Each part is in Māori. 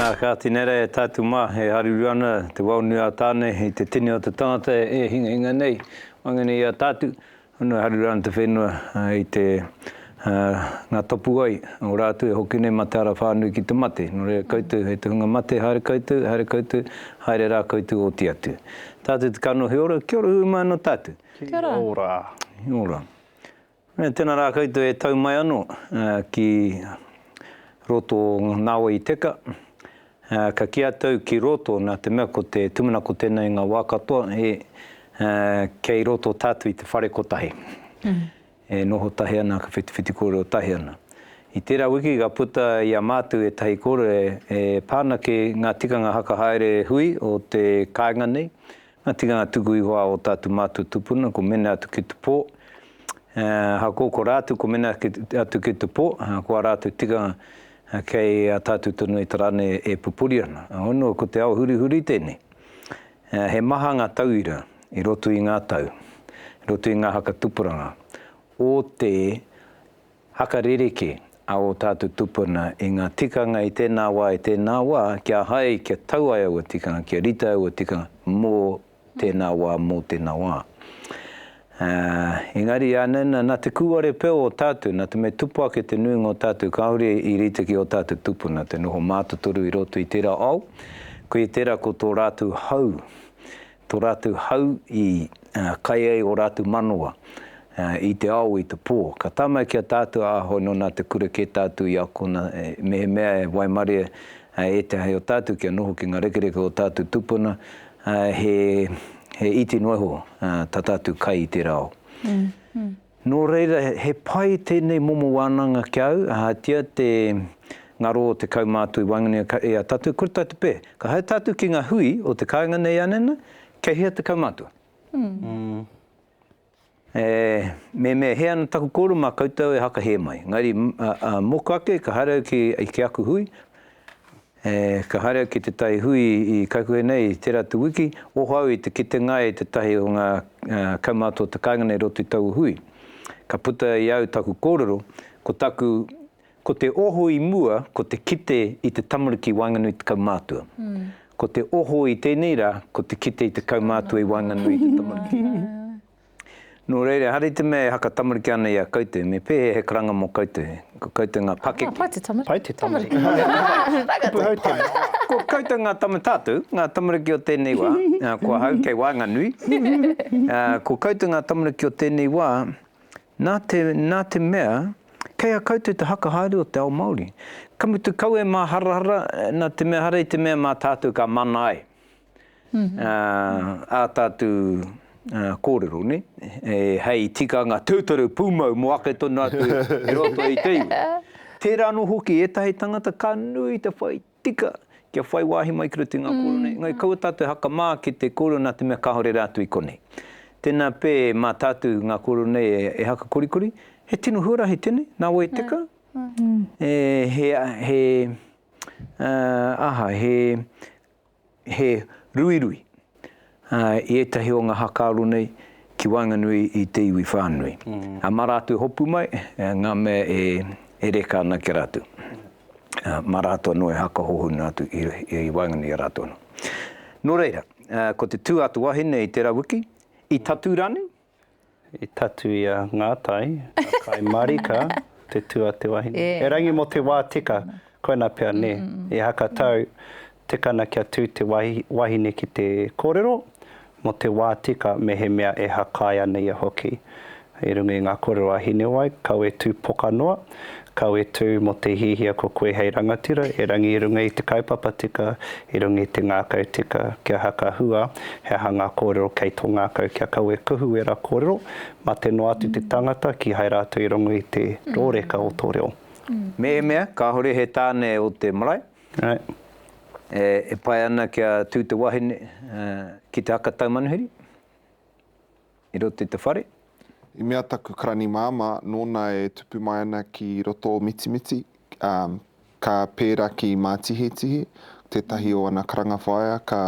Nā, kāti nei rā e tātou mā e haruru ana te wao nui a Tāne i te tini o te tangata e hingahinga nei, waenganei i a tātou, honu e haruru ana te whenua i te, ngā tapuwae o rātou e hoki nei mā te ara whānui ki te mate. Nō reira koutou hei te hunga mate, haere koutou, haere koutou, haere rā koutou oti atu. Tātou te kanohi ora, kia ora hui mai anō tātou. Kia ora. Kia ora. Tena ra koutou e tau mai ano ki roto o Nawa i teka. Ka ki a tau ki roto na te mea ko te tumanako tena i nga wa katoa e kei roto tatu i te whare kotahi. E noho tahi ana ka whitiwhiti korero tahi ana. I tera wiki ka puta i a matou etahi korero e pa ana ki nga tikanga haka haere hui o te kainga nei. Nga tikanga tuku iho a o tatu matou tupuna ko mene atu ki te po, ahakoa ko ratu ko mene atu ki te po, ko a ratou tikanga kei a tatu tonu e te rane e pupuri ana. Honua ko te ao hurihuri tenei. He maha nga tauira i roto i nga tau, i roto i nga haka tupuranga o te. Haka ririki a ō tātou tupuna i ngā tikanga i tēnā wā, i tēnā wā, kia hai, kia tau ai aua tikanga, kia rite aua tikanga mō tēnā wā, mō tēnā wā. Ā, engari ānei nā, nā te kūare pea o tātou, nā te mea tupu ake te nuinga o tātou kāore i rite ki ō tātou tupuna, te noho mātotoru i roto i tērā ao, koia tērā ko tō rātou hau, To ratou hau i kai ai o ratou manawa i te ao i te po. Ka tama ki a tatou a ahau no na te kura ke tatou i akona mehemea e waimare e te hae o tatou kia noho ki nga rekereke o tatou tupuna he iti noa iho ta tatou kai i tera ao. Nō reira, he pai tēnei momo wānanga ki a au, ahatia te ngaro o te kaumātua i waenganui i a tātou, kore tātou te pē. Ka haere tātou ki ngā hui o te kāinga nei anena, kei hea te kaumātua? E mehemea hē ana taku kōrero mā koutou e hakahē mai. Engari, mōku ake, ka haere au ki aku hui, E, ka haere au ki te tai hui i Kaikuhe nei i tera atu wiki, oho au i te kitenga e tetahi o nga kaumātua o te kainga nei i roto i taua hui. Ka puta i au taku kōrero, ko taku, ko te oho i mua ko te kite i te tamariki i waenganui i te kaumātua. Ko te oho i tēnei rā ko te kite i te kaumātua i waenganui i te tamariki. Nō reira, ehara i te mea e haka tamariki ana i a koutou, me pēhea he karanga mō koutou, ko koutou ngā pakeke. Pai te tamariki. Pai te tamariki. Ko koutou ngā tama tātou, ngā tamariki o tēnei wā, ko ahau kei waenganui, ko koutou ngā tamariki o tēnei wā, nā te, nā te mea, kei a koutou te haka haere o te ao Māori. Ka mutu kau e māharahara, nā te mea ehara i te mea mā tātou ka mana ai. ā tātu kōrero, ne? Hei tikanga tūturu pūmau mō ake tonu atu i roto i te iwi. Tērā anō hoki ētahi tangata ka nui te whai tika kia whai wāhi mai ki roto i ngā kōrero nei, engari kaua tātou e hakamā ki te kōrero nā te mea kāore rātou i konei. Tēnā pē mā tātou ngā kōrero nei e haka korikori, he tino huarahi tēnei, nā wai teka? He aha, he he ruirui i ētahi o ngā hakaaro nei ki waenganui i te iwi whānui. Mā rātou hopu mai ngā mea e reka ana ki a rātou. Mā rātou anō e haka hohonu atu i waenganui i a rātou anō. Nō reira, ko te tū a te wahine i tērā wiki, i tatū rānei? I tatū i a Ngātai, a Kāi Marika, te tū a te wahine. Erangi mō te wā tika, koinā pea, nē. I Hakatau, tikana kia tū te wahine ki te kōrero, mō te wā tika, mehemea e hakae ana ia hoki. I runga i ngā kōrero a Hinewai, kawe tū poka noa, Kawe tū mō te hiahia ko koe hei rangatira, erangi i runga i te kaupapa tika, i runga i te ngākau tika, kia haka hua, he aha ngā kōrero kei tō ngākau, kia kawe kuhu ērā kōrero, mate noa atu te tangata, kīhai rātou i rongo i te rōreka o tō reo. Mehemea kāore he tāne o te marae e pai ana kia tū te wahine ki te haka taumanuhiri. I roto i te whare. I mea taku karani māmā, nōna e tupu mai ana ki roto o Mitimiti, ka pērā ki Mātihetihe, tētahi o ana karanga whaea, ka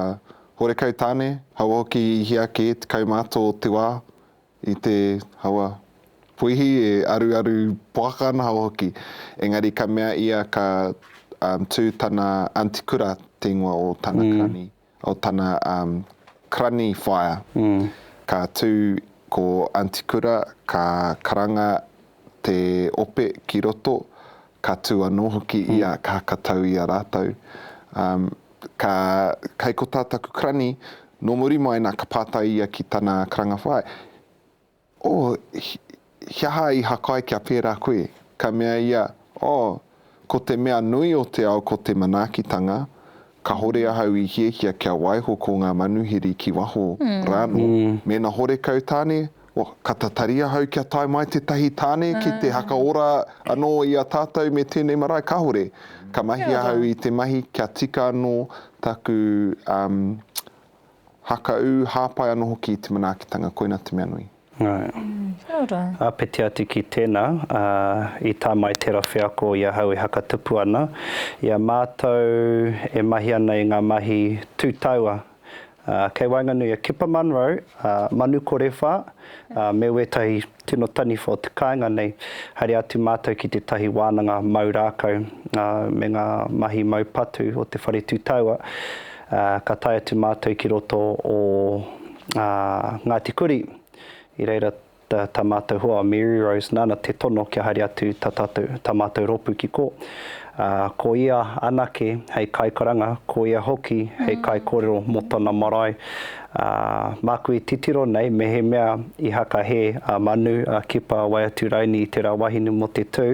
horekau tāne, haua hoki i hia kē tekau mā tō te wā, i te, haua, puihi e aruaru poaka ana haua hoki. Engari ka mea ia ka tū tana aunty kura te ingoa o tana karani. o tana crani whaea ka tu ko Aunty Kura ka karanga te ope ki roto ka tu ano hoki ia ka katau ia ratou ka kei ko tataku crani no muri mai na ka patai ia ki tana karanga whaea. Oh, he aha i hakai kia pērā koe? Ka mea ia, Oh, ko te mea nui o te ao ko te manaakitanga, kahore ahau i hiahia kia waiho ko ngā manuhiri ki waho rānō. Mēnā horekau tāne, oh, ka tatari ahau kia tae mai tētahi tāne ki te hakaora anō i a tātou me tēnei marae, kahore. Ka mahi ahau i te mahi kia tika anō taku, um, Hakaū, hāpai anō hoki i te manaakitanga, koina te mea nui. Kia ora. Āpiti atu ki tēnā, ā, i tae mai tērā wheako i ahau e hakatupu ana i a mātou e mahi ana i ngā mahi tū taua, ā, kei waenganui a Kepa Munro, ā, Manu Korewha, ā, me wētahi Tino taniwha o te kāinga nei, haere atu mātou ki tētahi wānanga mau rākau me ngā mahi mau patu o te whare tūtaua, ka tae atu mātou ki roto o Ngāti Kuri, i reira tā mātou hoa a Mary Rose nāna te tono kia haere atu tā mātou rōpū ki kō. Ko ia anake hei kaikaranga, ko ia hoki hei kaikōrero mō tana marae, Ā, māku i titiro nei mehemea i hakahē a Manu, a Kipa, a Waiaturaini i tērā wahine mō te tū,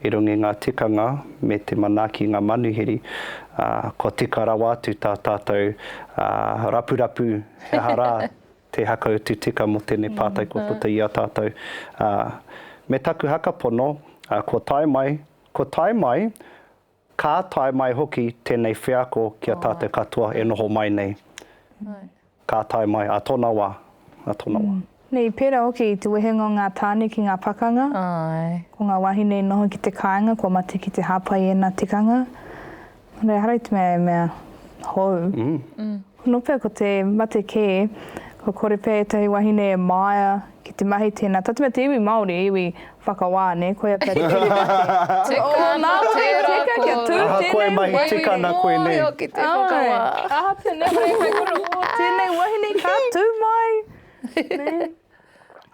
i runga i ngā tikanga me te manaaki i ngā manuhiri, ā, kua tika rawa atu tā tātou rapurapu he aha rā te hakautu tika mō tēnei pātai kua puta i a tātou. Ā, me taku haka pono, ā, kua tae mai, kua tae mai, Ka tae mai hoki tēnei wheako ki a tātou katoa e noho mai nei. Ka tae mai, ā tōna wā, ā tōna wā. Nei, pērā hoki i te wehenga o ngā tāne ki ngā pakanga, ko ngā wāhine i noho ki te kāinga kua mate ki te hāpai i ēnā tikanga, engari ehara i te mea e mea hou. Nō pea ko te mate kē, kua kore pea ētahi wahine e māia ki te mahi tēnā. Tātou mea te iwi Māori, iwi whakawā, nē, koia pea te kiri mate. Tika ana tērā kōrero. Ahakoa e mahi tika ana koe nei. He iwi Māori hoki te whakawā. Āe, ahatia nei hei kai kura, ō, tēnei wahine ka tū mai, nē.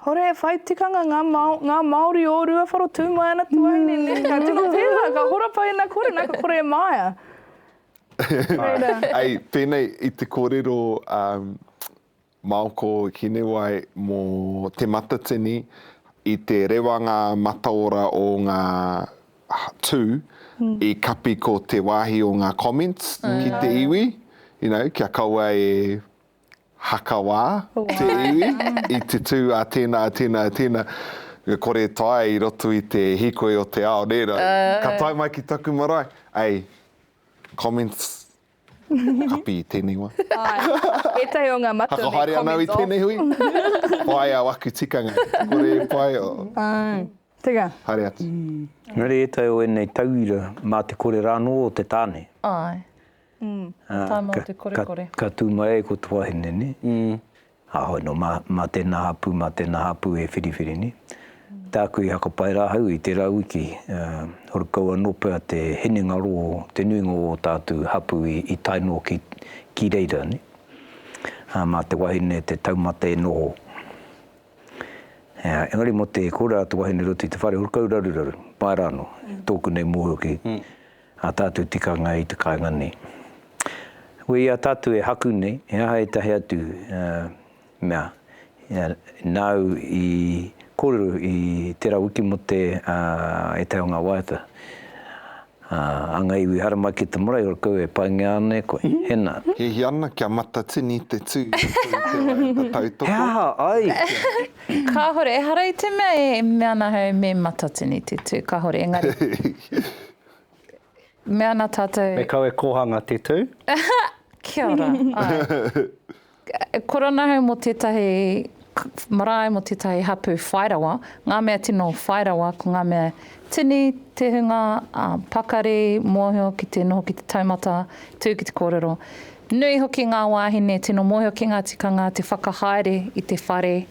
Hore e whai tikanga ngā, ngā Māori o Ruawharo, tū mai ana te wahine, nē, ka tino pērā, ka hora pai ana kore, nā ka kore e māia. Hei, pēnei i te kōrero a Maoko Hinewai mō Te Matatini, i te rewa ngā mataora o ngā tū i kapi ko te wāhi o ngā comments ki te iwi, you know, kia kaua e Hakawā te iwi i te tū a tēnā, a tēnā, a tēnā. Ka kore e taea i roto i te hīkoi o te ao, nē? Ka tae mai ki taku marae, ei, comments, kapi i tēnei wā. Āe, ētahi o ngā matua me comments off. Whakahaere anō i tēnei hui? Pai au aku tikanga, ka kore e pai, oh. Āe, teka. Haere atu. Engari ētahi o ēnei tauira, mā te kore rānō o te tāne. Āe. He tae noa te korekore. Ka tū mai ai ko te wahine nē, aho anō mā tēnā hapū, mā tēnā hapū e whiriwhiri nē. Tāku i hakapae rā ahau i tērā wiki, horu kau anō pea te hinengaro o te nuinga o ō tātu hapū i tae noa ki reira nē. Mā te wahine te taumata e noho. Engari mō te kōrero a te wahine i roto i te whare, horu kau raruraru, pai rānō, tōku nei mōhio ki. Ā tātou tikanga i te kāinga nei. Koe i a tātou e haku nei, he aha ētahi atu mea nāu i kōrero i tērā wiki mō te ētahi o ngā waiata? Anga iwi hara mai ki te marae, ora kau e paingia ana e koe. Hena. Hihi ana kia matatini te tū i roto i te waiata tautoko. He aha ai? Kāhore, ehara i te mea e mea ana ahau me matatini te tū, kāhore, engari. Me ana tatou. Me kau e kohanga te tu. Kia ora. Korona ahau mo tetahi marae mo tetahi hapu whai rawa. Nga mea tino whai rawa ko nga mea tini, te hunga, pakari, mohio ki te noho ki te taumata, tu ki te korero. Nui hoki nga wahine tino mohio ki nga tikanga te whakahaere i te whare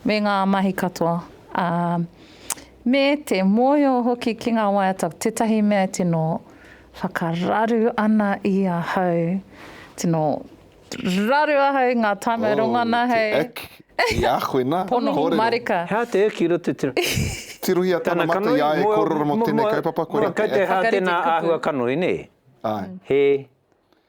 me nga mahi katoa. Me te mōhio hoki ki ngā waiata ko tētahi mea e tino whakararu ana i ahau, tino raru ahau i ngā tāmau rongona hei. Oh, te ick i a koe nā, kōrero. Pono marika. Hea te ick i roto te rangi. Tirohia tana mata i a e kōrero mō tēnei kaupapa, kore te ick. Kei te hā tēnā āhua kanoi, nē? Āe. He.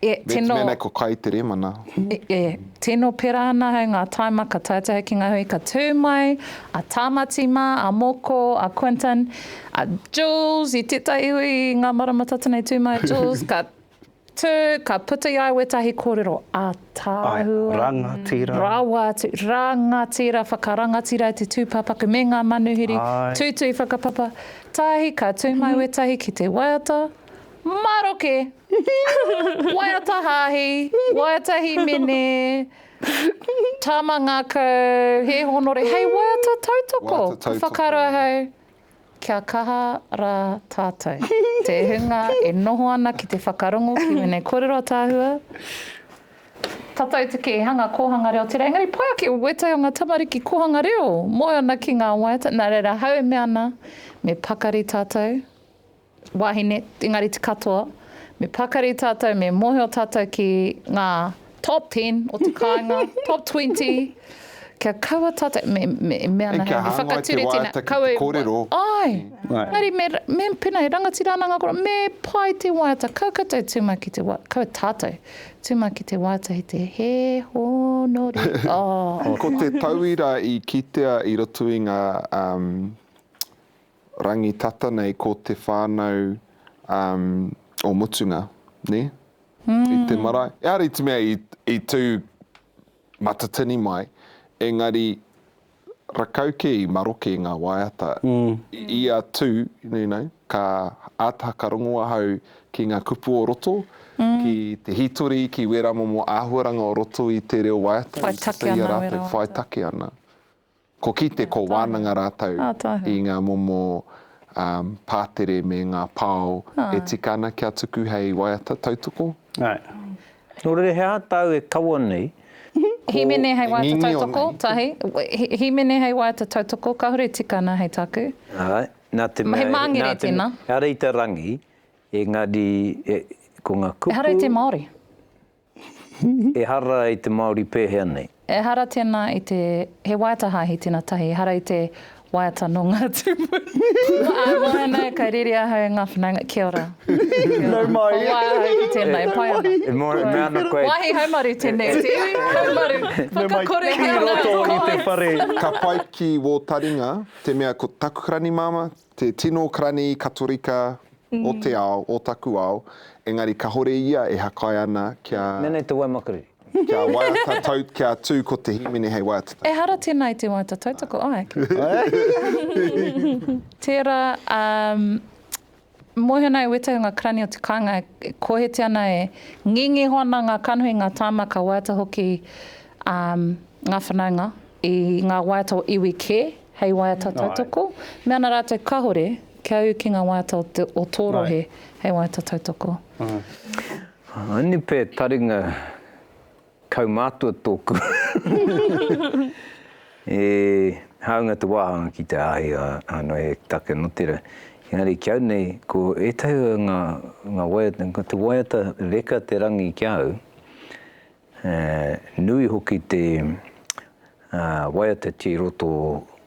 E, tino... Mēnei ko kai te remana. E, e, tino pera ana hei ngā taima ka taetae hoki ngā hui ka tū mai a Tāmati mā, a Moko, a Quinton, a Jules, i tētahi hui i ngā marama tata nei tū mai Jules, ka tū, ka puta i ai wētahi kōrero, a Tāhua. Ai, rangatira. Rawa atu, rangatira, whakarangatira e te tūpāpaku me ngā manuhiri, tūtui whakapapa, tahi ka tū mai wētahi ki te waiata, Maroke! Waiata Haahi, Waiata Himene, Tama Ngakau, He Honore, hei waiata tautoko! Waiata tautoko. Ka whakaaro ahau, kia kaha ra tatou. Te hunga e noho ana ki te whakarongo ki wenei korero atahua, tatou te keehanga kohanga reo tera, engari pai ake o wetai o nga tamariki kohanga reo, moe ana ki nga waiata, na reira ahau e mea ana, me pakari tatou, Wahine, engari te katoa, me pakari tātou, me mōhio tātou ki ngā top ten o te kāinga, top twenty, kia kaua tātou, me, me, e mea ana hei, me whakature tēnā, kaua e waiataki te kōrero. Āe, engari me, me, pēnā, he rangatira ana ngā kōrero, me pai te waiata, kaua koutou tū mai ki te waiata, kaua tātou, tū mai ki te waiata hei te he hōnore, oh. Ko te tauira i kitea i roto i ngā, um. rangi tata nei ko te whanau o Mutunga, ne? I te marae. Ehara i te mea i tu Matatini mai, engari rakau ke i maroke nga waiata. I a tu, you know, ka ata whakarongo ahau ki nga kupu o roto, ki te hitori, ki wera momo ahuaranga o roto i te reo waiata i sasahia ratou whai take ana. Ko Kite, ko Wānanga rātou i ngā momo pātere me ngā pao e tika ana kia tuku hei waiata tautoko. Nō reira he aha tāu e kaua nei ko Hīmene hei waiata tautoko, tahi. Hīmene hei waiata tautoko, kāore e tika ana hei tāku. Āe, nā te mea, he māngere tēnā. Ehara i te rangi, engari ko ngā kupu. Ehara i te Māori. Ehara i te Māori pēhea nei. Ehara tēnā i te, he waiata hāhi tēnā tahi, ehara i te waiata nō ngā tūpuna. Ā, mōhena, kai rere ahau e ngā whanaunga, kia ora. Nau mai. Kua wai ahau ki tēnā, e pai ana. E mōhena, mea ana koe. Wāhi haumaru tēnei, te iwi haumaru, whakakore ki a Nau Mai. Ki roto i te whare. Ka pai ki wō taringa, te mea ko taku ranimāma, Te tino karani Katorika o te ao, o taku ao, engari kahore ia e hakae ana kia. Nene te waimakariri. Kia waiata tau, kia tu ko te himene hei waiata tautoko. Ehara tena i te waiata tautoko, a heke. Tera, a moe ana e Wetahi nga karani o te kainga, e kohete ana, e ngengeho ana nga kanohi, nga tama, ka waiata hoki nga whanaunga i nga waiata o iwi ke. Hei waiata tautoko, me ana rātou kahore kia ū ki ngā waiata o te o tō rohe hei waiata tautoko. Anipe taringa kaumātua tōku e hāunga te wāhanga ki te āhei ānō e take anō tērā. Engari ki au nei, ko ētahi o ngā waiata, ko te waiata reka te rangi ki a au, He nui hoki te waiata ki roto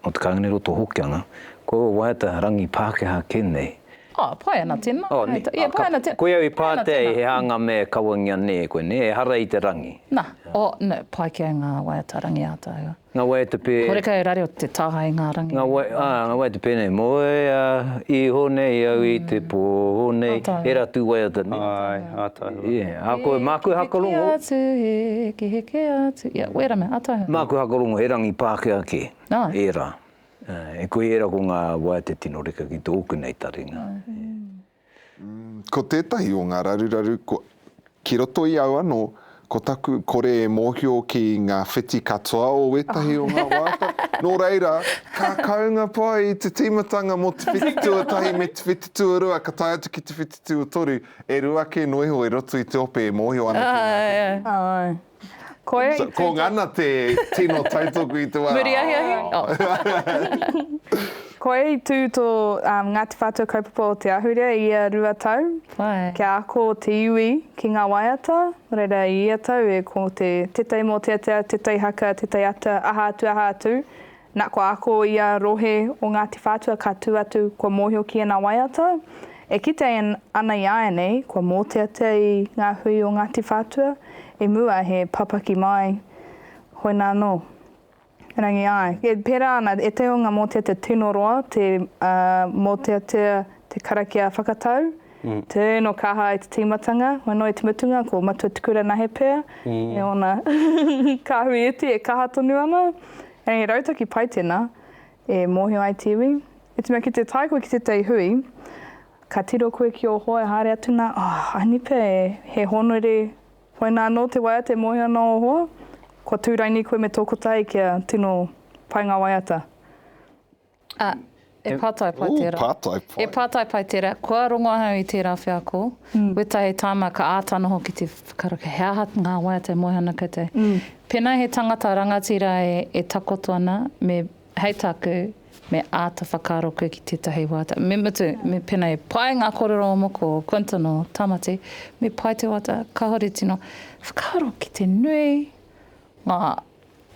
o te kāinga nei roto o Hokianga. Ko aua waiata rangi Pākehā kē nei. Oh, pae ana tēnā. Oh, nē. Ia, pae ana tēnā. Koia i pātea i he hanga me kawangia nē koe, nē? Ehara i te rangi. Nā, oh, nē, pai kē ngā waiata rangi āta hua. Nga wai te pe. Horeca e rare o te taha i nga rangi. Nga wai, a, nga wai te pe nei. Moea iho nei au i te po nei. He ra tu wai ata nei. Ai, ata hua. Ia, a koe, ma koe hakarongo. Heke atu, heke, heke atu. Ia, wera mea, ata hua. Ma koe hakarongo, he rangi Pakea ke, era. E koe era ko nga wai te tino reka ki toku nei taringa. Ko tētahi o ngā raruraru ki roto i au anō, ko taku kore e mōhio ki ngā whiti katoa o wētahi o ngā wāta, nō reira, ka kaunga pai te tīmatanga mō te whiti tuatahi me te whiti tuarua, ka tae atu ki te whiti tuatoru, e rua kē noa iho e roto i te ope e mōhio ana ki ngā whiti. Koia i tautoko. Ko ngana te tino tautoko i te wā. Muri ahiahi? Koia i tū tō Ngāti Whātua Kaupapa o Te Ahurea i ia rua tau. Why? Kia ako te iwi ki ngā waiata, reira i ia tau e ko te tetei mōteatea, tetei haka, tetei ata, aha atu aha atu. Na kua ako ia rohe o Ngati Whatua ka tu atu kua mohio ki ana waiata, e kitea ana i ainei kua moteatea i nga hui o Ngati Whatua i mua he papaki mai hoina no Rangi ai. E pera ana e te o nga moteatea tino roa te moteatea te karakia whakatau. Turn or kaha i te tīmatanga, wano i te mutunga ko Matua Tuku Ranahe pea me ōna kāhui iti e kaha tonu ana. Engari he rautaki pai tēnā e mōhio ai te iwi. I te mea ki te tae koe ki tētahi hui, ka tiro koe ki ō hoa e haere atu nā, oh, aini pea e, he hōnore hoina anō te waiata e mōhio ana ō hoa, kua tūraini koe me tō kotahi kia tino pai ngā waiata. Ā, e pātai pai tērā. Ū, pātai pai. E pātai pai tērā. Kua rongo ahau i tērā wheako. Wētahi tāma ka āta noho ki te whakaruku, he aha ngā waiata e moe ana koutou. Pēnā he tangata rangatira e takoto ana, me, hei tāku, me āta whakaaro koe ki tētahi waiata. Me mutu, me pēnā he pai ngā kōrero o moko, o Quinton, o Tamati, me pai te waiata, kāore tino whakaaro ki te nui ngā.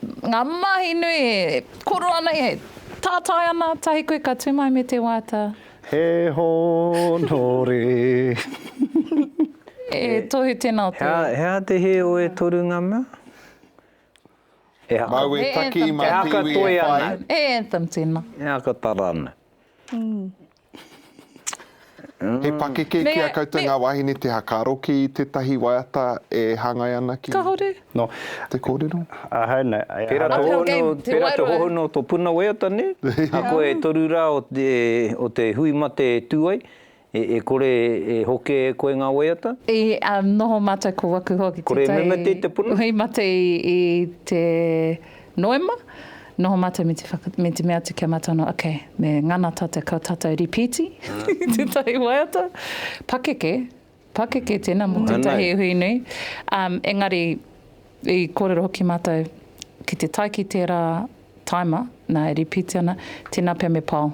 Ngā mahi nui e koro ana, e tātai ana, tahi koe ka tū mai me te wāta. He hōnore. E tohu tēnā o te. He aha te hē o e toru ngā mea? E haka. Mau e taki mā te iwi e whai. E anthem tēnā. E haka tara ana. He pakeke ki a koutou ngā wāhine te hakaaro ki tētahi waiata e hāngai ana ki te kōrero? Ahau nei. Pērā te hohonu o tō puna waiata nei, a koe e toru rā o te hui mate e tū ai, e kore e hoke e koe ngā waiata? I noho mātou ko waku hoki te tai. Kore e memeteia te puna? Hui mate i te Noema, Noho matou me te whaka, me te mea atu kia matou noho, ok, me ngana tatou kau tatou ripiti i tetahi waiata. Pakeke, pakeke tena mo tetahi iwi nui. Um, engari, i korero hoki matou, ki te tae ki tera taima, na e ripiti ana, tena pea me pao.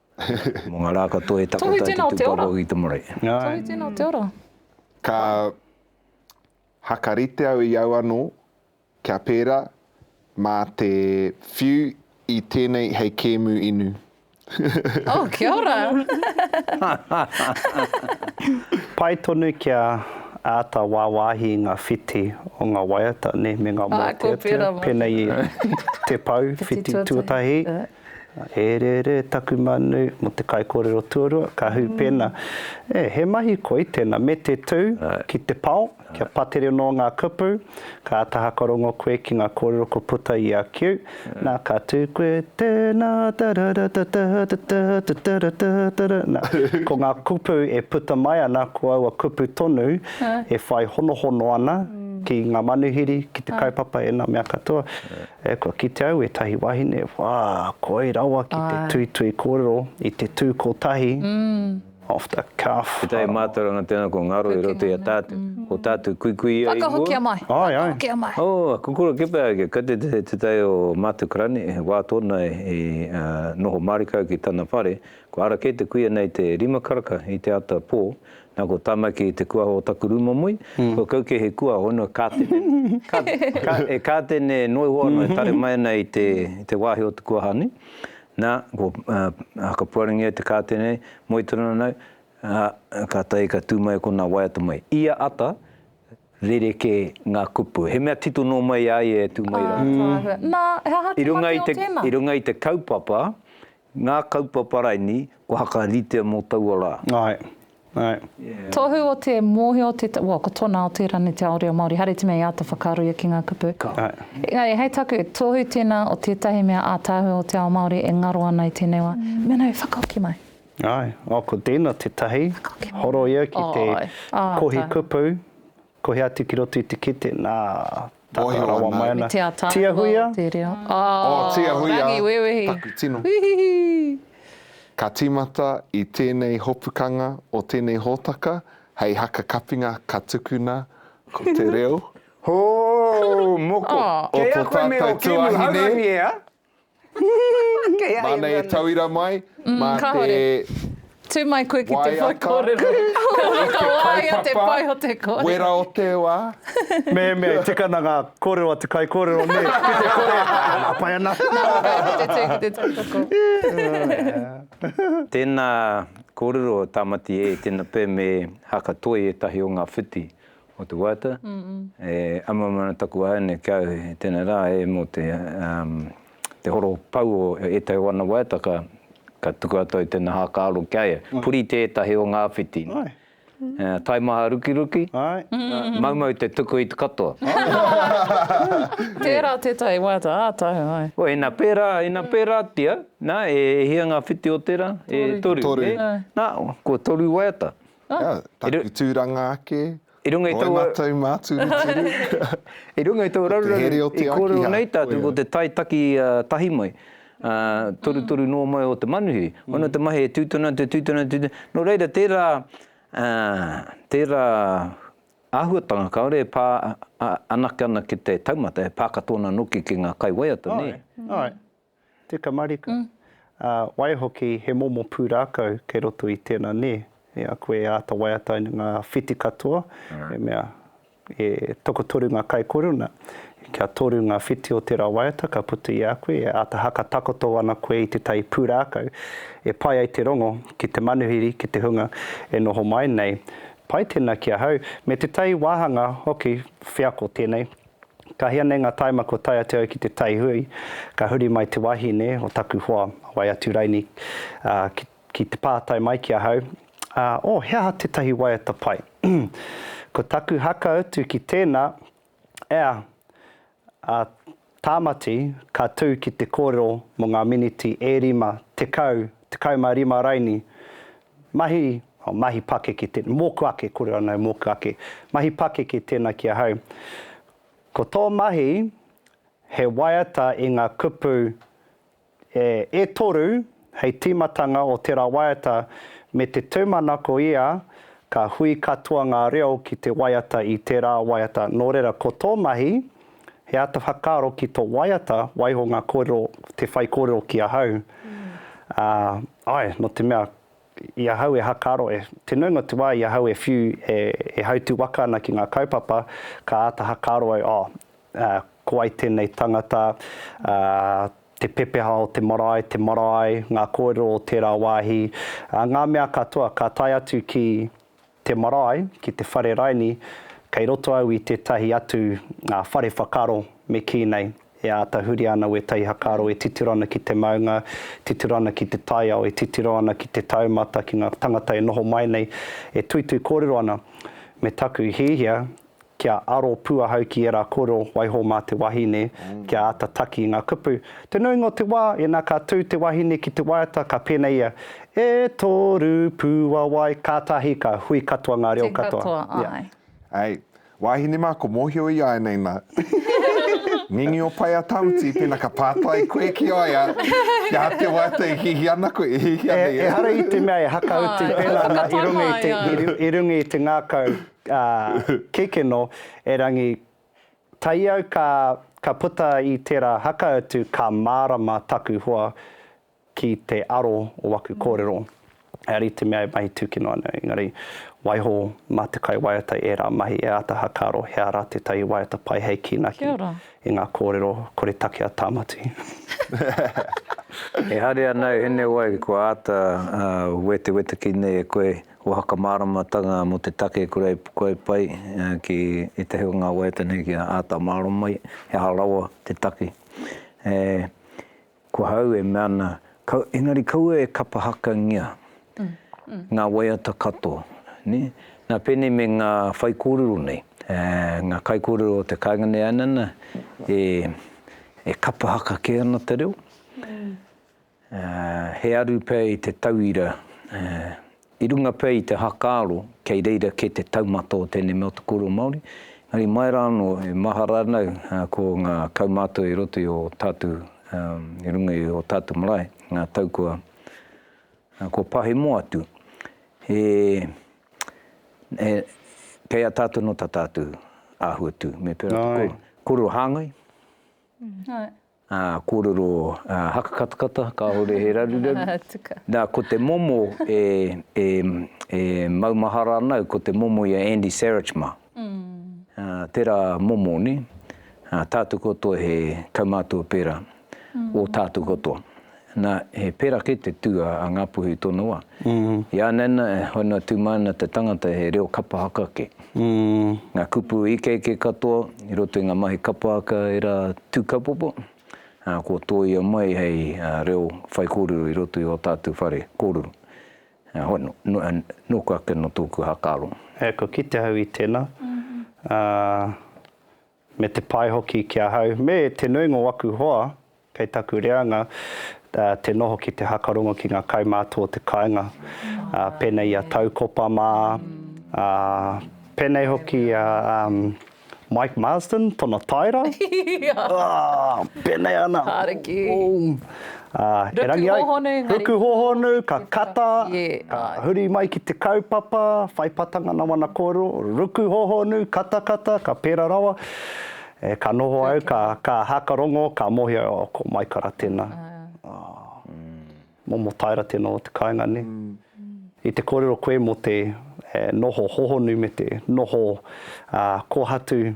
Mō ngā rā katoa e takoto ai te tūpapa o Hitomorei. Tohu tēnā o te ora. Ka hakarite au i au anō kia pērā mā te whiu i tēnei hei kēmu inu. Oh, kia ora! Pai tonu kia āta wāwāhi i ngā whiti o ngā waiata, nē, me ngā mōteatea, pēnei i te pou, whiti tuatahi, E rere taku manu mo te kaikorero tuarua, ka hu pena, E, he mahi koi tena, me te tu ki te pao, kia patere no nga kupu, ka ata hakarongo koe ki nga korero ko puta i a kiu, na ka tu koe, Tena tararatatatatatatara, na, ko nga kupu e puta mai ana ko aua kupu tonu e whai honohono ana ki nga manuhiri, ki te kaupapa e na mea katoa. E, kua kite au ētahi wahine, wā, koi rawa ki te tuitui kōrero i te tū kotahi, off the cuff. Tētahi mātauranga tēnā kua ngaro i roto i a tātou, ko tātou kuikuia i mua. Whakahokia mai, whakahokia mai. Ae, ae. Oh, kua kura kē pea, kei te tētahi o mātou karani, he wā tōna i noho mārika ki tana whare, kua ara kē te kuia nei te rima karaka i te ata pō. Na ko Tamaki te kuaho o taku ru momoi, ko kau ke he kuaho no e katene e noi hoa no e tare mai ana i te wahi o te kuaha nei. Na ko Hakapuarangi ai te katene moi tonu ana au, katahi ka tu mai kona waiata mai. Ia ata, rereke nga kupu. He mea tito no mai a ia e tu mai rara. I runga i te kaupapa, Ngā kaupapa raini kua hakaritea mō taua rā. Ae. Ae. Tohu o te mōhio te, well, ko tona o te rangi te ao reo Māori, haere te mea i āta whakaaroia ki ngā kupu. Ka. Engari, hei taku, tohu tēnā o tētahi mea ātaahua o te ao Māori e ngaro ana i tēnei wā. Me nau, whakahoki mai. Ae. Oh, ko tēnā tētahi. Whakahoki mai. Horoia ki te. Ae. Ae. Ae. Kohi kupu, Ko hea atu ki roto i te kete? Nā, tata rawa mai ana. Tia Huia? Oh, Tia Huia, taku tino. Ka tīmata i tēnei hopukanga o tēnei hōtaka hei haka kapinga ka tukuna ko te reo. Hoo! Moko! Kei a koe me o Kemu Haurangi, ea? Kei a ia Māna e tauira mai mā te. Kāore. Tū mai koe ki te whai kōrero. Waiata. Ka wāia te pai o te kōrero. Wera o te wā. Mehemea i tikana ngā kōrero a te kaikōrero, nē, ki te kore, nā, pai ana. Nā, kei ki te tū, ki te tautoko. Tēnā kōrero Tāmati e, tēnā pea me Haka Toi ētahi o ngā whiti o te waiata, e ama mai ana taku āiane ki a au, e tēnā rā e mō te te horo pau o ētahi o ana waiata ka ka tuku atu ai tēnā hākāro ki a ia. Puri tētahi o ngā whiti, taimaha rukiruki, maumau te tuku i te katoa. Tērā tētahi waiata ā tahu, āe. Wai, ina pērā, ina pērātia, nā, e hia ngā whiti o tērā? E toru. Toru. Nā, ko toru waiata. Ia, taku tūranga ake, koe mātou māturuturu. I runga i tō raruraru, i kōrero nei tātou ko te tae taki tahi mai, torutoru noa mai o te manuhiri. Hono te mahi e tūtuna atu, e tūtuna atu, nō reira tērā, tērā āhuatanga kāore e pā anake ana ki te taumata, e pā katoa ana noki ki ngā kaiwaiata, nē? Te tamarika. Ā, waihoki, he momo pūrākau kei roto i tēnā nē, i a koe e āta waiata ai ngā whiti katoa, i mea, e tokotoru ngā kaikoruna, kia toru ngā whiti o tērā waiata ka puta i a koe, e āta haka takoto ana koe i tētahi pūrākau e pai ai te rongo ki te manuhiri, ki te hunga e noho mai nei. Pai tēnā ki ahau, me tētahi wāhanga hoki wheako tēnei. Ka hia nei ngā taima kua tae atu au ki te taihui, ka huri mai te wahine o taku hoa, a Waiaturaini, ā, ki, ki te pātai mai ki ahau, Ā, o he aha tētahi waiata pai? Ko taku haka utu ki tēnā, Ea, ā, Tāmati, ka tū ki te kōrero mō ngā miniti e rima, tekau, tekau mā rima raini, Mahi, oh, mahi pakeke tēnā, mōku ake, kore anō mōku ake. Mahi pakeke tēnā ki ahau. Ko tō mahi, he waiata i ngā kupu e, e toru hei tīmatanga o tērā waiata me te tūmanako ia ka hui katoa ngā reo ki te waiata i tērā waiata. Nō reira, ko tō mahi, he āta whakaaro ki tō waiata, waiho ngā kōrero, te whaikōrero ki ahau. Ā. Ae, no te mea, i ahau e hakaro, e, te nuinga te wa i ahau e whiu, e, e hautu waka ana ki nga kaupapa, ka ata hakaro au, oh, a, ko wai tenei tangata, a, te pepeha o te marae, te marae, nga korero o tera wahi, a, nga mea katoa, ka tae atu ki, te marae ki te whare raini kei roto au i tētahi atu whare whakaaro me kī nei e āta huri ana wētahi hakaaro e titiro ana ki te maunga, titiro ana ki te taiao, e titiro ana ki te taumata, ki ngā tangata e noho mai nei, e tuitui kōrero ana me taku hiahia kia aro pū ahau ki ērā kōrero waiho mā te wahine, kia āta taki i ngā kupu. Te nuinga o te wā, ina ka tū te wahine ki te waiata, ka pēnei ia, E toru pū a wai, kātahi ka hui katoa ngā reo katoa. Tū katoa, āe. Hei, wāhine mā, ko mōhio i a au nei nā. Ngingi o Paea Tawhiti, pēnā ka pātai koe ki a ia, kia te waiata e hihi ana koe, e hihi ana ia. Ehara i te mea e hakautu pēnā nā i runga i te ngākau. Kekeno, erangi, taiau ka, ka puta i tera haka atu ka marama taku hoa ki te aro o aku korero. He ari te mea e mahi tuki noa nei, engari, waiho ma te kai waiata era mahi e ata hakaaro he ara tetahi waiata pai hei kinaki i nga korero kore take a Tamati. Ehare anau henewai kua ata weteweta ki nei e koe Ko Hakamāramatanga mō te take kuraipukai pai ki ētahi o ngā waiata nei kia āta mārō mai he aha rawa te take. Ko hau e mea ana, engari kaua e kapahakangia ngā waiata katoa. Nā pēnei me ngā whaikōrero nei, ngā kaikōrero o te kāinga nei anana e kapahaka kē ana te reo, He aru pea i te tauira, i runga pea i te hakaaro kei reira kē te taumata o tēnei mea o te kōrero Māori, engari mai rā anō e mahara ana au ko ngā kaumātua i roto i ō tātou, i runga i ō tātou marae, ngā tau kua pahemo atu, he, kei a tātou anō tā tātou āhua tū, me pērā te kōrero hāngai. Ā, kōrero hakakatakata, kāore he raruraru. Nā, ko te momo e, e, e maumahara ana au, ko te momo i a Andy Sarich mā. Ā, tērā momo, nē? Ā, tātou katoa he kaumātua pērā, o tātou katoa. Na, he pera ke te tu a Ngapuhi tonoa. I a nana, hono tu mai ana te tangata he reo kapa haka ke. Nga kupu ikeike katoa i roto i nga mahi kapa haka e ra tu kapopo, a, kua toia mai hei reo whaikorero i roto i o tatu whare korero. A, hono, noku ake no toku hakaro. Kua kite au i tena, a, Me te pai hoki ki ahau me te nuinga o aku hoa kei taku reanga te noho ki te hakarongo ki ngā kaumātua o te kāinga, pēnei i a Taukopa mā, pēnei hoki i a Mike Marsden tona taera, pēnei ana. Haere ki. Ruku hōhonu engari. Ruku hōhonu, ka kata, ka huri mai ki te kaupapa, whai patanga nā wana kōrero, ruku hōhonu, kata kata, ka pērā rawa. Ka noho au, ka haka rongo, ka mōhio, oh, ko Maikara tēnā. Momo taera tēnā o te kāinga nei. I te kōrero koe mō te noho hōhonu me te noho kōhatu,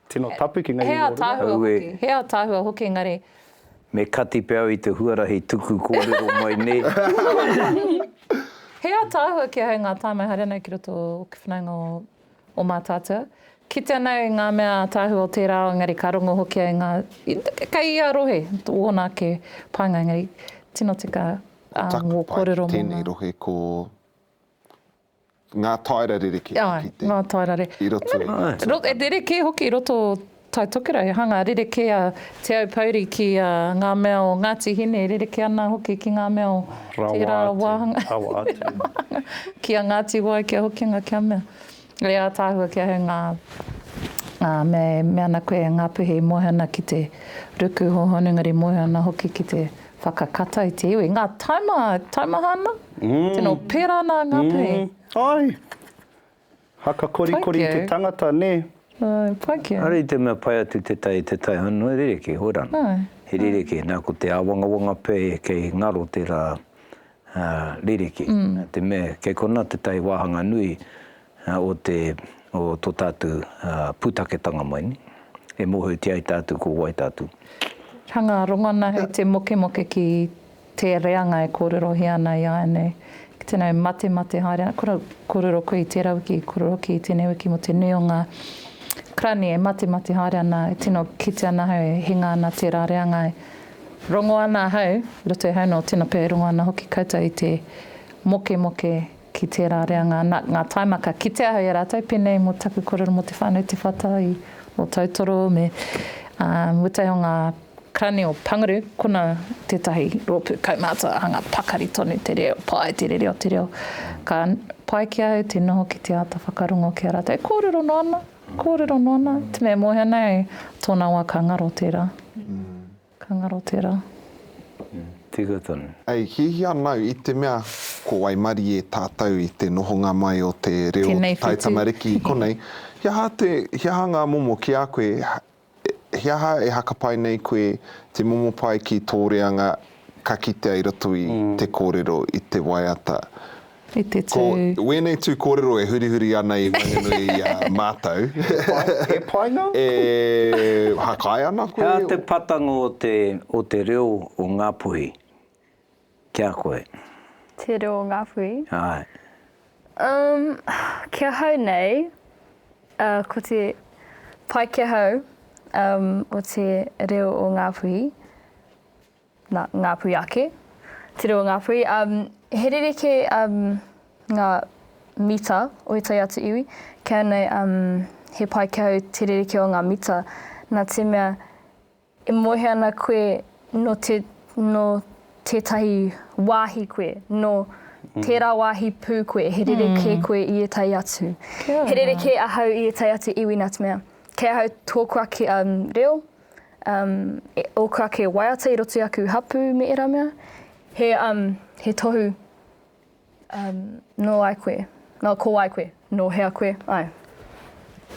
Tino tapu ki ngei o runga. Aue. He ataahua hoki engari. Me kati pe au i te huarahi tuku korero mai ne. He ataahua ki ahau nga taimai haere anau ki roto o ke whanaunga o o Matatua. Kite anau i nga mea ataahua o tera ao engari ka rongo hoki au i nga kei ia rohe wona ake painga engari tino tika a ngo korero mo nga. Ko taku pai ki tenei rohe ko Ngā taera rerekē hoki tēnei. Āe, ngā taera rerekē. I roto i ngā tuakana. E rerekē hoki i roto o Tai Tokerau, he hanga rerekē a Te Aupouri ki ngā mea o Ngāti Hine, e rerekē ana hoki ki ngā mea o tērā wāhanga. Rawa atu, rawa atu. Ki a Ngāti Wai, ki a Hokinga, kia mea. E ātaahua kia hei ngā mea e mea ana koe e Ngāpuhi i moe ana ki te ruku hōhonu, engari moe ana hoki ki te. Whakakata i te iwi. Ngā taima, taimaha ana? Tino pērā ana ngā pē. Ai. Haka korikori te tangata, nē. Ai, pai kē. Are i te mea pai atu te tai i te tai honu, he rerekē, hoi rana. He rerekē, nā ko te āwangawanga pē kei ngaro tērā ririki, te mea kei konā te tae wāhanga nui o te, o tō tātou pūtaketanga mai nei, e mōhiotia ai tātou ko wai tātou. Hanga rongona hei te mokemoke ki te reanga e kōrerohia ana i āianei, ki tēnei matemate haere ana, kura, kōrero koe i tērā wiki, kōrero hoki i tēnei wiki mō te nui o ngā karani e matemate haere ana, e tino kitea ana he hinga ana tērā reanga e. Rongo ana ahau, roto i ahau nō Tinapē, rongo ana hoki koutou i te mokemoke ki tērā reanga nā, ngā taimaka. Kitea ahau i a rātou, pēnei mō taku kōrero mō Te Whānau Te Whata i Ōtautoro me, ā, mutai o ngā Karani o Panguru, kona tētahi rōpū kaumātua hanga pakari tonu te reo, pai te rere o te reo. Ka pai ki ahau te noho ki te āta whakarongo ki a rātou e kōrero noa ana. Kōrero noa nā, te mea moe ana e, tōna wā ka ngaro tērā. Ka ngaro tērā. Tika tonu. Hei hiahia nau i te mea ko waimarie tātou i te nohonga mai o te reo o te taitamariki konei, he aha te, he aha ngā momo ki a koe He aha e hakapai nei koe te momo pae ki tō reanga ka kitea i roto i te kōrero i te waiata? I te tū. Ko wēnei tū kōrero e hurihuri ana i waenganui i a mātou. E painga? E hakae ana koe? He aha te patango o te reo o Ngāpuhi? Ki a koe. Te reo Ngāpuhi. Āe. Umm, ki ahau nei, uh, ko te pai ki ahau, um, o te reo o Ngāpuhi, na, Ngāpuhi ake, te reo o Ngāpuhi, um, he rerekē um, ngā mita o ētahi atu iwi, ki ahau nei, um, he pai ki ahau te rerekē o ngā mita, nā te mea, E moe ana koe nō te, nō tētahi wāhi koe, nō tērā wāhi pū koe, he rerekē koe i ētahi atu. He rerekē ahau i ētahi atu iwi nā te mea, kei ahau tōku ake reo, ōku ake waiata i roto i aku hapū me ērā mea, he tohu. Nō ai koe? Nō ko wai koe? Nō hea koe? Ai.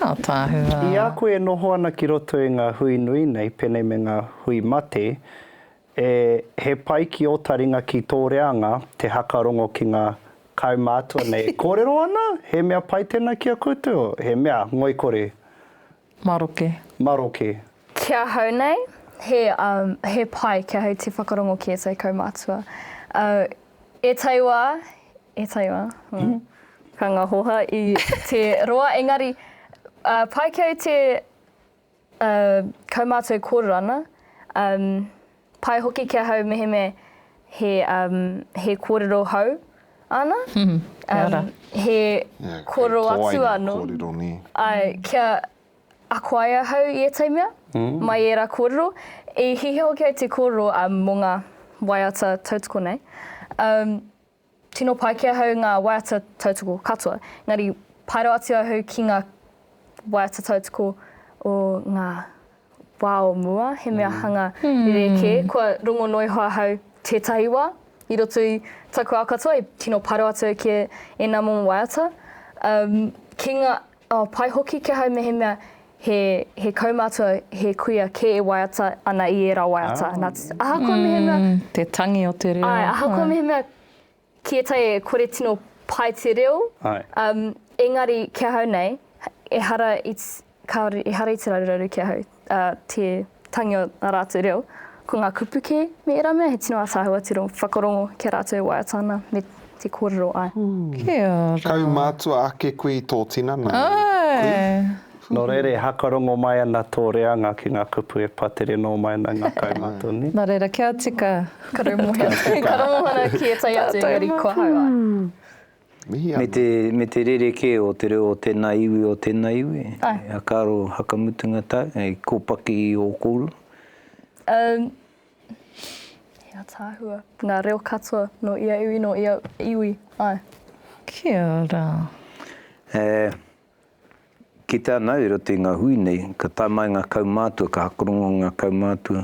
Ataahua. I a koe e noho ana ki roto i ngā hui nui nei, pēnei me ngā hui mate, e, he pai ki ō taringa ki tō reanga te hakarongo ki ngā kaumātua nei e kōrero ana, he mea pai tēnā ki a koutou, he mea ngoikore. Maroke. Maroke. Ki ahau nei, he, um, he pai ki ahau te whakarongo ki ētahi kaumātua. Uh, e taiwa, e taiwa, hmm. ka ngā hoha i te roa, engari, uh, pai ki au te uh, kaumātua e kōrero ana, um, Pai hoki ki ahau mehemea he, um, he kōrero hou ana. Mm, kia um, ora. Um, he yeah, kōrero atu anō. Kōrero, nē. Ai, kia ako ai ahau i ētahi mea, mm. mai ērā kōrero. I hihia hoki ai te kōrero um, mō ngā waiata tautoko nei. Um, Tino pai ki ahau ngā waiata tautoko katoa, engari pai rawa atu ahau ki ngā waiata tautoko o ngā wā o mua, he mea hanga rerekē. Kua rongo noa iho ahau tētahi wā, i roto i taku ao katoa, tino pai rawa atu au ki ēnā momo waiata. Umm, ki ngā. Oh, pai hoki ki ahau mehemea he kaumātua, he kuia kē e waiata ana i ērā waiata. Nā te. Ahakoa mehemea. Mm, te tangi o te reo. Āe, ahakoa mehemea ki ētahi e kore tino pai te reo. Āe. Um, engari ki ahau nei, ehara i, kāore, ehara i te raruraru ki ahau. ā, te tangi o ā rātou reo. Ko ngā kupu kē me ērā mea he tino ātaahua te whakarongo ki a rātou e waiata ana me te kōrero ai. Kia ora. Kaumātua ake koe i tō tinana. Āe. Nō reira e hakarongo mai ana tō reanga ki ngā kupu e pa tere nō mai ana ngā kaumātua nei. Nō reira kia tika. Ka raumohia. Ka raumohia ki ētahi atu engari kua hau ai. Me te, me te rerekē o te reo o tēnā iwi, o tēnā iwi, a karo hakamutunga tau, hei kōpaki i ō kōrua? Umm, he ataahua, ngā reo katoa, nō ia iwi, nō ia iwi, āe. Kia ora. E, Kite ana i roto i nga hui nei, ka tae mai nga kaumātua, ka hakorongo nga kaumātua,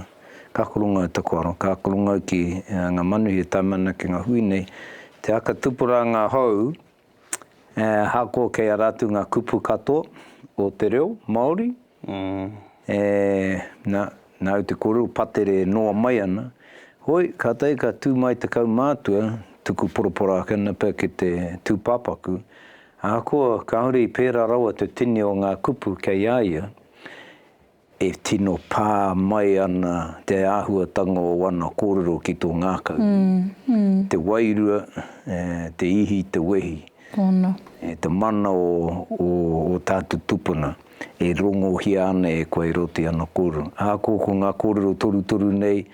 ka hakorongo au taku aro, ka hakorongo au ki nga manuhi e tae mai ana ki nga hui nei, te haka tupuranga hou, ahakoa kei a rātou nga kupu katoa o te reo Maori, E, na, nau te korero patere e noa mai ana, Hoi, katai ka tu mai te kaumātua, tuku poroporo ake ana pea ki te tūpāpaku, ahakoa kāore i pērā rawa te tini o ngā kupu kei a ia, e tino pā mai ana te āhuatanga o ana kōrero ki tō ngākau, te wairua, e, te ihi, te wehi, e, te mana o, o, o tātou tupuna. e rongohia ana e koe roto i ana kōrero. Ahakoa ko ngā kōrero torutoru nei,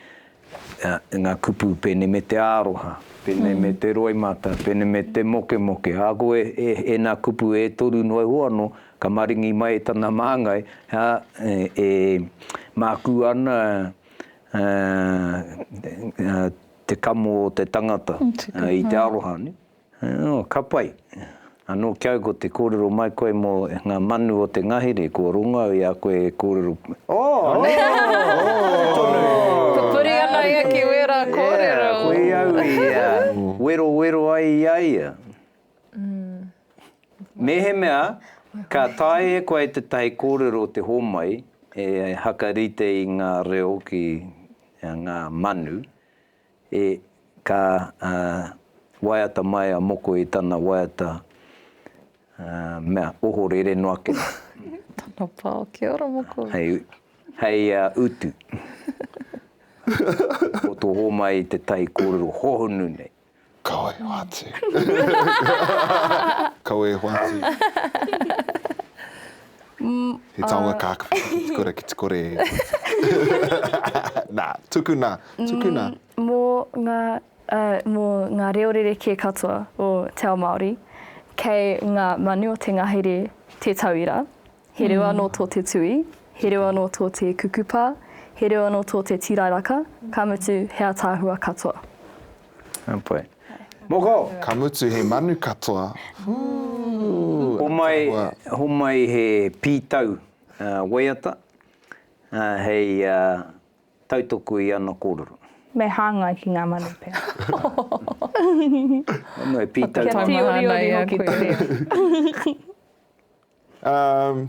ngā kupu pēnei me te aroha, pēnei me te roimata, pēnei me te mokemoke, ahakoa e, ēnā kupu e toru noa iho anō, ka maringi mai e tana māngai, ā, e mākū ana te kamo o te tangata i te aroha. Ō, ka pai. Anō ki au ko te kōrero mai koe mō ngā manu o te ngahere, kua rongo au i a koe e kōrero pū. Ō! Ō! Tonu e! Pupuri ana ia ki wērā kōrero. Ea, ko i au i werowero ai i a ia. Mēhemea, ka taea e koe tētahi kōrero te hōmai e hakarite i ngā reo ki ngā manu, E, ka, ā, waiata mai a Moko i tana waiata, ā, mea, ohorere noa kē. Tana pā, Kia ora, Moko. Hei, hei, ā, utu. Poto hōmai i te tahi kōrero hohonu nei. Kau e hoatu. Kau e hoatu. He taonga kākawhiti ki te kura, ki te kore e hoatu. Nā, tukuna, tukuna. Mō ngā, mō ngā reo rerekē katoa o te ao Māori, kei ngā manu o te ngahere te tauira. He reo anō tō te tui, he reo anō tō te kukupa, he reo anō tō te tīrairaka, ka mutu he ātaahua katoa. Heoi. Moko! Ka mutu he manu katoa. Homai, homai he pītau waiata hei tautoko i ana kōrero. Me hāngai ki ngā manu pea. Ono he pītau manu. Kia tīoriori hoki te reo. Umm.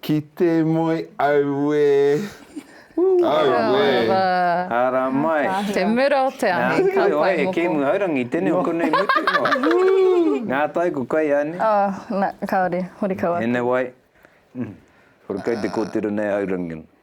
Ki te moe auē! Auē! Ara mai! Te mura o te ahi, ka whai moko. Nā, koe, e Kēmu Haurangi, tēnei o konei mutu noa. Ngā tai ko kai a ne? Oh, nā, kāore, horekau atu. Ēnei wai, horekau te kōtiro nei a Haurangi.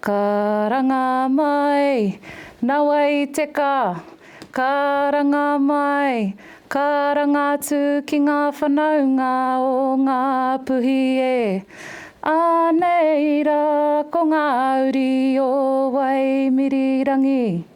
Karanga mai, nawa i te ka, karanga mai, karanga atu ki nga whanaunga o nga puhi e. Anei ra ko nga uri o Waimirirangi.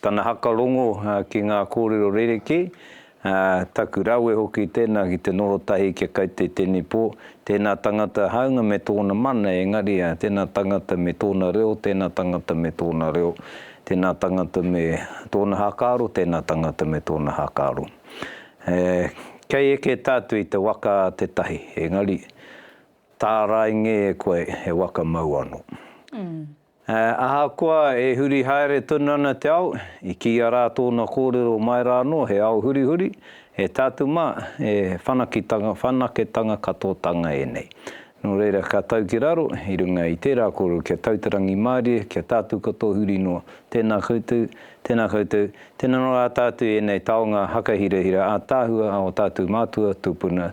Tana haka rongo ki ngā kōrero rerekē, taku rawe hoki tēnā ki te noho tahi kia kai te tenipo, tēnā tangata hāunga me tōna mana engari tēnā tangata me tōna reo, tēnā tangata me tōna reo, tēnā tangata me tōna hākāro, tēnā tangata me tōna hākāro. Kei eke tātou i te waka a te tahi, engari tāraingē e koe he waka mau anō. Ā, ahakoa e huri haere tonu ana te ao, i kīia rā tōna kōrero mai rā anō, he ao hurihuri, e tātou mā, he whanakitanga, whanaketanga katoatanga ēnei. Nō reira, ka tau ki raro, i runga i tērā kōrero, kia tau te rangimārie, kia tātou katoa huri noa. Tēnā koutou, tēnā koutou, tēnā noa ā tātou i ēnei taonga hakahirahira ātaahua a ō tātou mātua tūpuna.